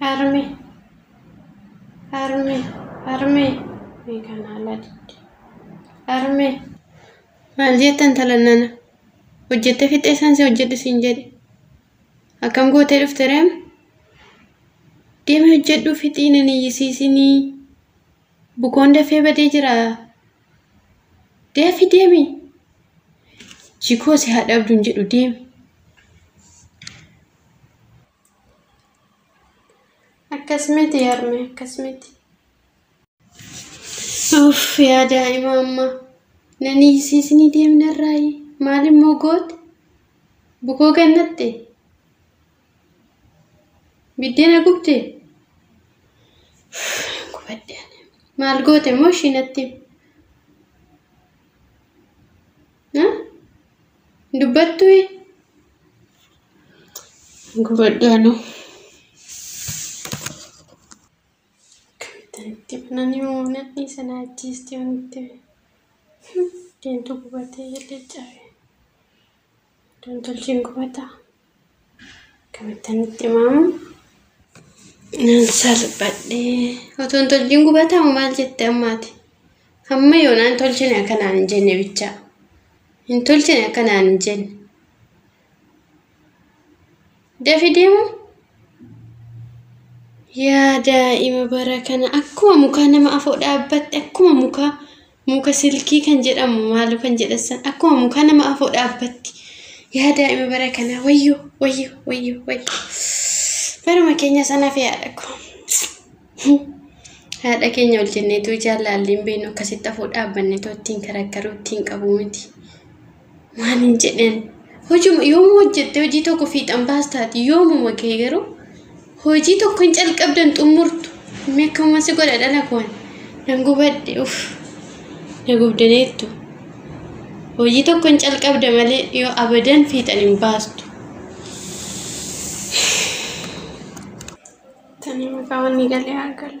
Harme Harme Harme mee kan haalaa didde Harme maal jettan talan nana hojjette fixee san si hojjedhu siin jedhe akkam gootee dhufte reem deemi hojjedhuu fixii nan iyyisiisinii bukoon dafee badee jira deefi deemi jikoo si haa dhabduun jedhu deemi Akkas miti yarme akkas miti. Uff yaa daa'ima amma nani isiisinii deemnarraayi maal immoo goote bukoo gannatte biddeena gubde gubadde maal goote immoo ishiinatti Ha? Hin dubbattu ee? Gubadhu anuu. Akkamittan itti banani moo nadhii sana ajjeesti yoon itti deemtu gubatee illee cabe. Dontolchiin gubataa. Akkamittan itti himamu? Nan salphadhe. Otoo hin tolchin gubataa moo maal jette ammaati? Hamma yoonaa hin tolchine akkanaan hin jenne bichaa. Hin tolchine akkanaan hin jenne. Dafi deemu? Yaa daa'ima bara kana akkuma mukaa nama afoo dhaabbatte akkuma mukaa Muka silkii kan jedhamu maalu kan jedhassan akkuma muka nama afoo dhaabbatti yaa daa'ima bara kanaa wayyo wayyo wayyo wayyo baruma keenya sana fi haadha ko haadha keenya ol jenneetu jaalaalliin beenu akkasitti afoo dhaabbanne too ittiin karakkaruu ittiin qabu miti Maaliin jedheen hojuma yoomuu hojjette hojii tokko fiixan baastaati yoomuma kee garuu hojii tokko hin calqabdan xumurtu mee akkamuma si godha dhala koon nan gubadhe uf na gubdaneettu hojii tokko hin calqabda malee yoo abadan fiixan hin baastu. Tani maqaa wanni galee haa galu.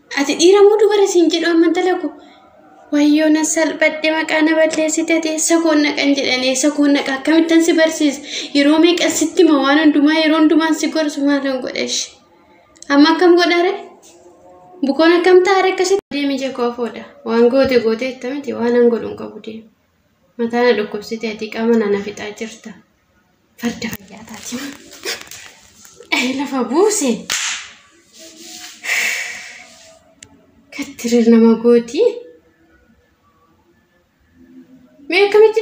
Ati dhiira moo dubara siin jedhu amma intala koo? Wayyoo na salphadhe maqaa na balleessite ati eessa koon naqan jedhan eessa koon naqa akkamittan si barsiisa yeroo meeqan sitti hima waan hundumaa yeroo hundumaan si gorsu maalan godha ishi amma akkam godhare bukoon akkam taa'are akkasitti deemi jekoo afoodha waan goote goote jetta miti waan an godhu hin qabu deemi mataa na dhukkubsite ati qaama na na fixaa jirta. Farda fayyaa taati. Ee lafa buuse. Kattirir nama gooti. Mee akkamitti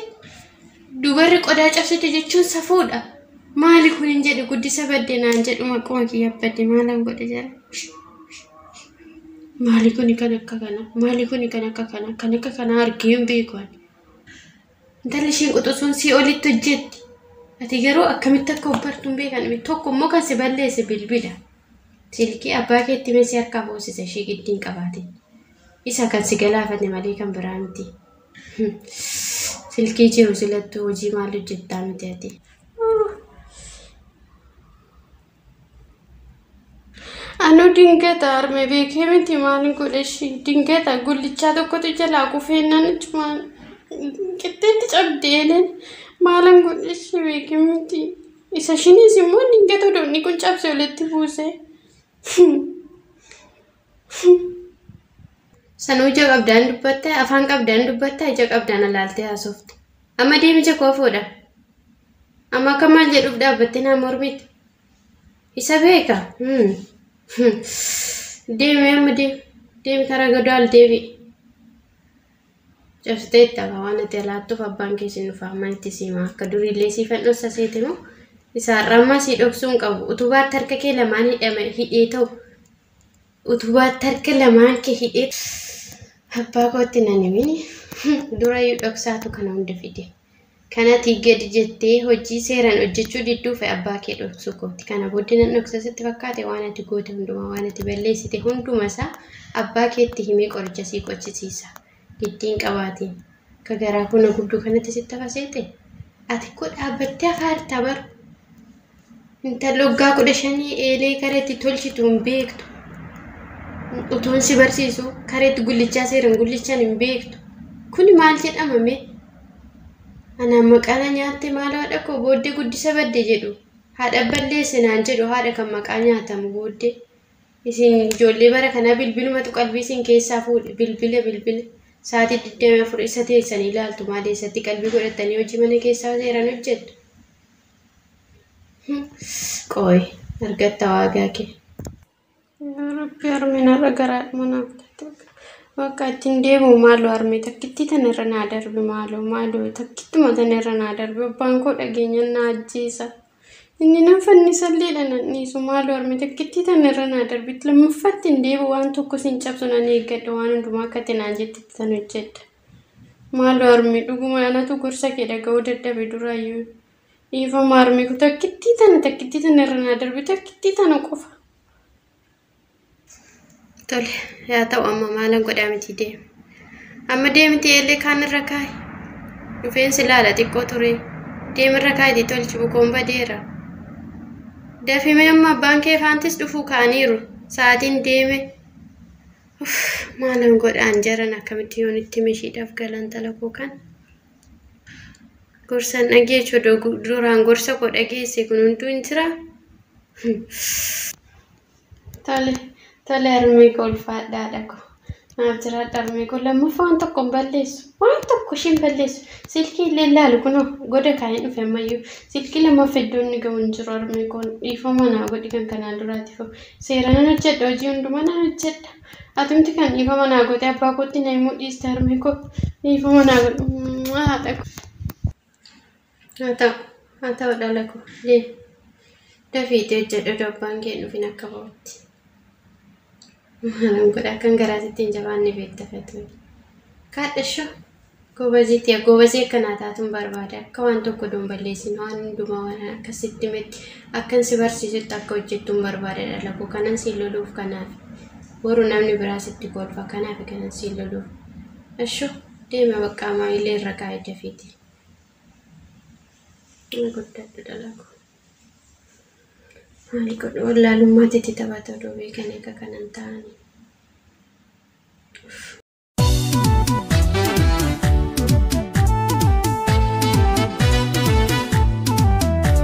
dubarri qodaa cabsite jechuun safuudha. Maali kun hin jedhu guddisa badde naan jedhu maquma kiyya badde maalan godhe jala. Maali kun kan akka kana maali kun kan akka kana kan akka kana argee hin beeku ani. Intalli ishiin quxusuun sii olitti hojjetti. Ati garuu akkamitti akka obbartu hin beekan miti. Tokko immoo kan si balleesse bilbila. Silkii abbaa keetti mee si harkaa boosisa ishii giddiin qabaatin. Isa kan si galaafate malee kan biraa miti. Silkii jiru silattuu hojii maal hojjettaa miti ati. Anuu dingata harme beekee miti maaliin godhe ishii dingata gullichaa tokkotu jalaa kufeennaan achumaan qixxeetti cabde eleen maalan godhe ishii beekee miti isa ishiniis immoo dingata doonii kun cabse walitti buuse. Sanuu ija qabdaan dubbatta, afaan qabdaan dubbatta, ija qabdaan alaaltee haasofte. Amma deemi ija koo fuudha. Amma akka maal jedhuuf dhaabbattee naa mormitti. Isa beeka. Hmm. Hmm. Deemi amma deemi. Deemi karaa godaal deemi. Cabsitee itti hafaa waan ati alaattuuf abbaan kee siin dhufaa amma itti siimaa akka duriillee siifan dhossa seete moo isaarraa ammaa sii dhoksuun qabu utubaatti harka kee lamaan hidhame hidhee ta'u utubaatti harka lamaan kee hidhee abbaa kootti nan himini durayyuu dhoksaatu kana hunda fide kanati gadi jettee hojii seeraan hojjechuu didduufe abbaa kee dhoksuu kooti kana booddee nan dhoksa sitti fakkaate waan ati goote hundumaa waan ati balleessite hundumasaa abbaa keetti himee qoricha sii qochisiisa Giddi hin qabaatin. Ka garaa buna gubdu kanatti sitti hafa seete? Ati ko dhaabbattee hafaa jirta bar. Intalli waggaa kudha shanii eelee kara itti tolchitu hin beektu. Utuun si barsiisu kara itti gullichaa seeran gullichan hin beektu. Kuni maal jedhama mee? Anaan maqaana nyaatte maal haadha koo booddee guddisa badde jedhu. Haadha balleesse naan jedhu haadha kan maqaa nyaatamu booddee. Isin ijoollee bara kanaa bilbilumatu qalbii isin keessaa fuudhe bilbila bilbila sa'aatii 24 isa teessanii ilaaltu maal eessatti qalbii godhattanii hojii mana keessaa seeraan hojjettu. Qooy argatta waagaa kee. Rabbi harminarra garaadhuma naaf taate bakka ittiin deemu maaloo harmee takkittii tanarra naa darbi maaloo maaloo takkittuma tanarra naa darbi abbaan koo dhageenyaan naa ajjeesa. Inni nan fannisallee dha nan dhiisu maaloo harme takkittii tan irra naa darbitti lammaffaatti hin deebi'u waan tokko sin cabsu nan eeggadha waan hundumaa akka ati naan jettetti tan hojjedha. Maaloo harme dhuguma anatu gorsa kee dhaga'uu dadhabe duraayyuu. Dhiifama harme ko takkittii tana takkittii tana irra naa darbi takkittii tana qofa. Tole yaa ta'u amma maalan godhaa miti deemi. Amma deemiti eellee kaan irra kaa'i. Rifeensi laala xiqqoo ture. Deemirra kaa'itii tolchi bukoon badeera. Dafimee amma abbaan kee faantis dhufuu ka'aniiru. Sa'aatiin deeme. Uff, maalan godhaan jaran akkamitti yoon itti mishiidhaaf galan talakoo kan. Gorsan dhageechu duraan gorsa koo dhageesse kun hunduu hin jira. Tole, tole harmee koo ulfaadha haadha koo. Naaf jiraadha harmee koo. Lammaffaa waan tokko hin balleessu. Waan tokko isheen balleessu. Silkii illee laalu kunoo goda kaa'een dhufe ammayyuu. Silkii lammaffaa iddoo inni ga'u hin jiru harmee koon. Dhiifama naa godhi kan kanaan duraatiif. Seera nan hojjedha hojii hundumaa nan hojjedha. Atumti kan dhiifama naa goote abbaa kootti na himuu dhiiste harmee koo. Dhiifama naa godhi. Haadha koo. Haa ta'u, haa ta'u dhala koo, deemi. Dafiitii hojjedhu odoo abbaan kee hin dhufin akka ba'utti. Maalan godha akkan garaa sitti hin jabaanne beekta Fatuun. Kaadhashoo, goobazii tiya goobazii akka naa taatun barbaada. Akka waan tokko doon balleessin waan hundumaa waan akka sitti metti akkan si barsiisutti akka hojjettun barbaada dhala koo. Kanan siin loluuf kanaaf. Boru namni biraa sitti kolfa kanaaf kanan siin loluuf. Ashoo. Deema baqqaa maamilee irra kaa'e dafiiti. Inni guddadhu dalagu. Maali godhu wallaalummaa titi taphata odoo beekanii akka kanan ta'ani.